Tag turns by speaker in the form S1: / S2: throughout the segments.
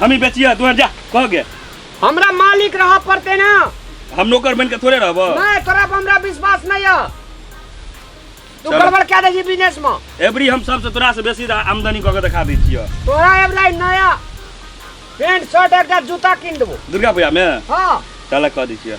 S1: हम ही बेचिया तू जा कह गए हमरा मालिक
S2: रह पड़ते ना हम नौकर बन
S1: के थोड़े रहब नहीं तोरा पर हमरा
S2: विश्वास नहीं है तू चलो। गड़बड़ क्या दे
S1: बिजनेस में
S2: एवरी हम सबसे तोरा
S1: से बेसी रा- आमदनी कऽ के देखा दै छियै तोरा एबला नया
S2: पैंट शर्ट एकटा जूता कीन देबो दुर्गा पूजा में
S1: हाँ चल कऽ
S2: दै छियै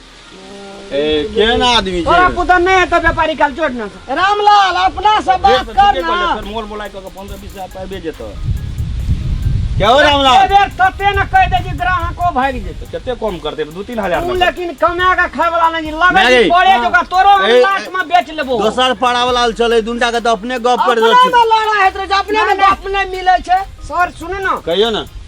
S3: ए केहन आदमी छै तोरा पुता नहि हेतौ व्यापारी
S2: काल चोट ना रामलाल अपना से बात कर ना सर मोल मोलाइ कऽ के 15 20
S1: हजार पाबे जेतौ
S3: क्या हो रामलाल एक बेर तते न कह
S2: दे कि ग्राहको भाग जेतौ कते कम करते 2 3000
S1: तू लेकिन कमा के खाय
S2: वाला नहीं लगे नहीं। पड़े जो का तोरो
S3: हम
S2: ए- लाख में बेच
S3: लेबो
S2: दोसर पाड़ा वाला
S3: चले दुनटा के तो अपने गप कर अपना दे में लड़ा
S2: हेत रे
S3: जे अपने
S2: में गप नहीं मिले छै सर सुने ना कहियो ना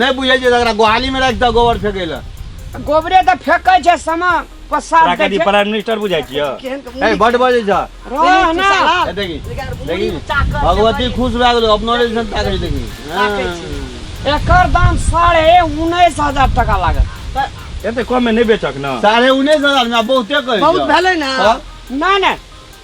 S2: नहि बुझै छै एकरा
S3: गोहाली में राखि दऽ गोबर फेकै लए गोबरे तऽ
S2: फेकै छै समा पसार तोरा दै कथी छै प्राइम मिनिस्टर बुझाइ छियै
S1: केहन के ए मुँह बड बजै
S3: छ रह ना
S2: ए, देखी
S3: देखी भगवती खुश भए गेलो अपनो रे जन ताकै देखी ताकै छी। हाँ।
S2: एकर दाम साढ़े उन्नैस हजार टका लागत एते कम में
S1: नहीं बेचक ना साढ़े उन्नैस हजार में आब
S3: बहुते कहै बहुत छौ। भेलै ने हाँ।
S2: नहि नहि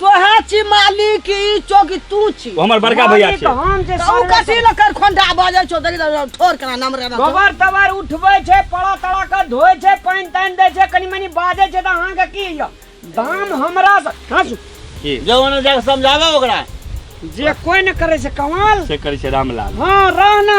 S3: तोहे
S2: छी मालिक ई चौकी तू छी वो हमार बड़का भैया मालिक छे
S1: हम जे तू कथी
S4: सर्वे ल कर
S2: खोंडा बजै छौ देखि त ठोर केना नाम रे गोबर तबर उठबै
S4: छै पड़ा तड़ा के धोइ छै पानि तानि दै छै कनि मनि बाजै छै तऽ अहाँके की यऽ दाम हमरा सँ हँसू की जवन
S1: जाके समझावे
S3: ओकरा जे कोइ
S4: नहि करै छै कमाल से करै छै रामलाल
S1: हँ रहना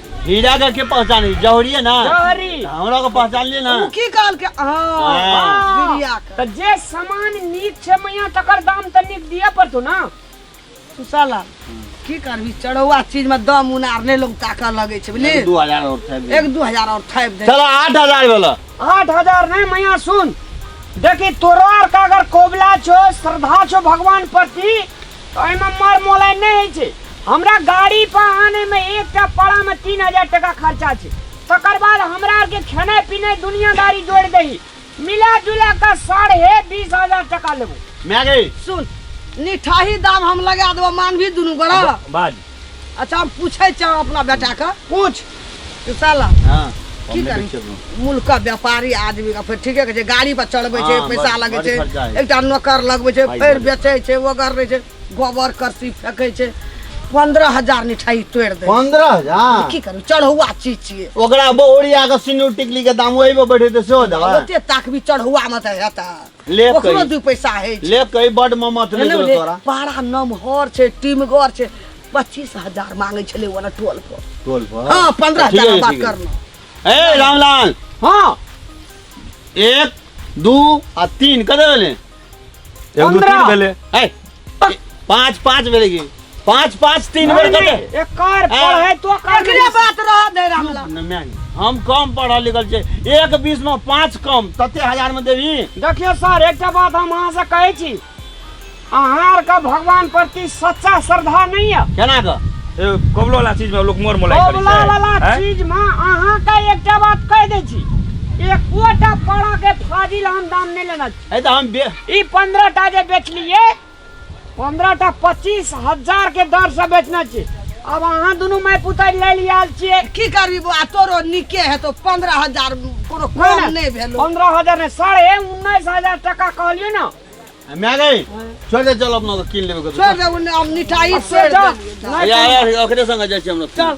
S4: हीरा
S3: का के पहचान है जौहरी है ना जौहरी हमरा को
S4: पहचान लिए
S3: ना उ की कहल के
S2: हां हाँ। बिरिया
S4: के तो जे
S2: सामान
S4: नीक छै मैया तकर दाम त नीक दिए पड़तो ना तू
S2: साला की करबी चढ़ौआ चीज में दम उनार नहीं लोग ताकऽ लगे छै बुझली दू हजार और था एक
S3: दू हजार और थापि दे
S2: चलो आठ हजार बोला
S3: आठ हजार नहीं
S4: मैया सुन देखी तोरो आर का अगर कोबला छो श्रद्धा छो भगवान प्रति एहिमे मर मोलाइ नहि होइ छै हमरा गाड़ी पर आने में एक टा पड़ा में तीन हजार टका खर्चा छै तकर बाद हमरा आर के खेनाइ पिनाइ दुनियादारी जोड़ दही मिला जुला कर साढ़े बीस हजार टका लेबो माय गई सुन
S2: निठाही दाम हम लगा देबो मानभी दुनू गोरा बाज
S1: अच्छा हम
S2: पूछै छी अपना बेटाके पूछ
S4: तू साला
S2: हाँ की
S3: करी
S2: मुल्क का व्यापारी आदमी का फिर ठीके कहै छै गाड़ी पर चढ़बै छै हाँ, पैसा लगै छै एकटा नौकर
S3: लगबै छै
S2: फेर बेचै छै
S3: वगैर रहै
S2: छै गोबर करसी फेंकै छै पंद्रह हजार मिठाई तोड़ दे पंद्रह हजार की करू
S3: चढ़ौआ
S2: चीज छियै ओकरा ओरिया के
S3: सिनू टिकली के दाम ओहि पर बैठे से हो जाए ओते ताकबी चढ़ौआ
S2: में त हेता ले ओकरो कही दू
S3: पैसा
S2: है ले
S3: कही
S2: बड ममत नहि
S3: करो तोरा पारा
S2: नमहर छै टीमगर छै पच्चीस हजार मांगे छले वाला टोल पर टोल पर हाँ पंद्रह
S3: ठीक हजार
S2: है, बात
S3: ठीक है। करना ए
S2: रामलाल
S3: हाँ एक दू आ तीन कते भेलै एगो
S1: दू तीन पंद्रह। भेलै ए
S3: पाँच पाँच भेलै की पाँच पाँच तीन बेर कटे एकर पढ़े
S4: तो कर एकरे बात रह
S2: दे रामला न, मैं नहीं। हम कम
S3: पढ़ल लिखल छै एक बीस में पाँच कम तते हजार में देबी देखियो सर एकटा
S4: बात हम अहाँ से कहै छी अहाँ आर के भगवान प्रति सच्चा श्रद्धा नहीं है केना कऽ ए,
S3: कबलो वाला
S1: चीज में लोग मोर मोलाई करै कबला वाला छै हैं? चीज
S4: में
S1: अहाँ
S4: के एकटा बात कह दै छी एकोटा पड़ा के फाजिल हम दाम नहीं लेना है तो हम बे
S3: ई पंद्रह टा
S4: जे बेचलिए पंद्रह टा पच्चीस हजार के दर से बेचना छी अब अहाँ दुनू माय पुतैर ले लिया आयल छियै की करबी बौआ
S2: तोरो नीके हेतौ पंद्रह हजार कोनो कम नहि भेलो पंद्रह हजार ने साढ़े
S4: उन्नीस हजार टका कहलियै ने हम आ गए
S3: छोड़ दे चल अपना तो किन लेबे छोड़ दे उन्हें हम मिठाई
S2: छोड़ दे
S4: यार
S2: यार ओकरे संग
S3: जाय छी हम लोग चल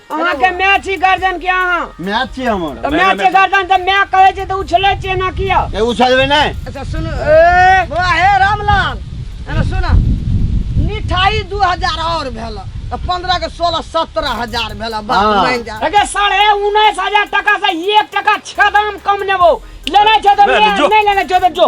S1: अहाँ के माय छी
S4: गर्दन के अहाँ मैच छी हमर तऽ
S3: माय के गर्दन तऽ
S4: माय
S1: कहै छै
S4: तऽ उछलै छियै ना किया ए उछलबे नै
S3: अच्छा सुन ए
S2: बौआ हे रामलाल एना सुन मिठाई दू हजार और भेल तऽ पंद्रह के सोलह सत्रह हजार भेल बात हाँ। मान जा अगे
S3: साढ़े
S2: उन्नैस
S4: हजार टका से एक टका छदाम कम नेबो लेने छै तऽ ले, ले, जो। ले लेने छै
S1: तऽ
S4: जो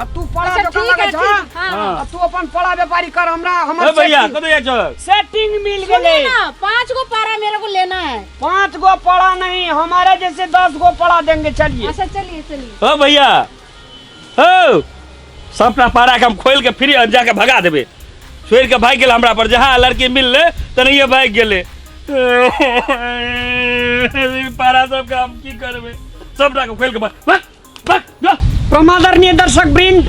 S4: अब
S1: तू पड़ा अच्छा, दुकान
S4: ठीक लगे है, जा ठीक, हाँ, हाँ।
S5: अब तू अपन
S4: पड़ा
S1: व्यापारी
S4: कर हमरा ए हमर भैया setting- कतऽ जाइ छहक
S1: सेटिंग मिल सुनिए गेले
S4: ना पाँच
S5: गो
S4: पारा
S5: मेरे को लेना है पांच गो पड़ा
S4: नहीं हमारे जैसे दस गो पड़ा देंगे चलिए अच्छा चलिए चलिए
S5: हो भैया
S1: हो सबटा पारा के हम खोल के फ्री अब जाके भगा देबे छोड़ के भाग गेल हमरा पर जहाँ लड़की मिल ले तनहिए भाग गेले ई पारा सबके हम की करबे सबटा के खोल के भा- भा- प्रमादरणीय दर्शक
S4: वृंद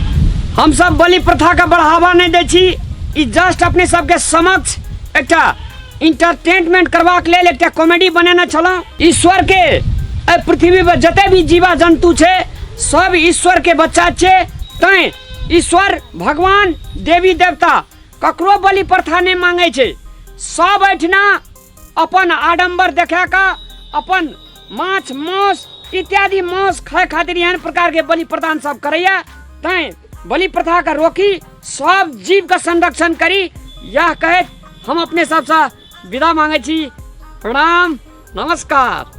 S4: हम सब बलि प्रथा का बढ़ावा नहीं दै छी ई जस्ट अपने सबके समक्ष एकटा इंटरटेनमेंट करबाक लेल एकटा कॉमेडी बनेने छलहुँ ईश्वर के एहि पृथ्वी पर जते भी जीवा जंतु छै सब ईश्वर के बच्चा छै तैं ईश्वर भगवान देवी देवता ककरो बलि प्रथा नहि मांगै छै सब एहिठिना अपन आडम्बर देखा कऽ अपन माछ मांस इत्यादि मांस खाय खातिर एहन प्रकार के बलि प्रदान सब करैया तैं बलि प्रथा के रोकी सब जीव के संरक्षण करी यह कहैत हम अपने सबसँ विदा मांगै छी प्रणाम नमस्कार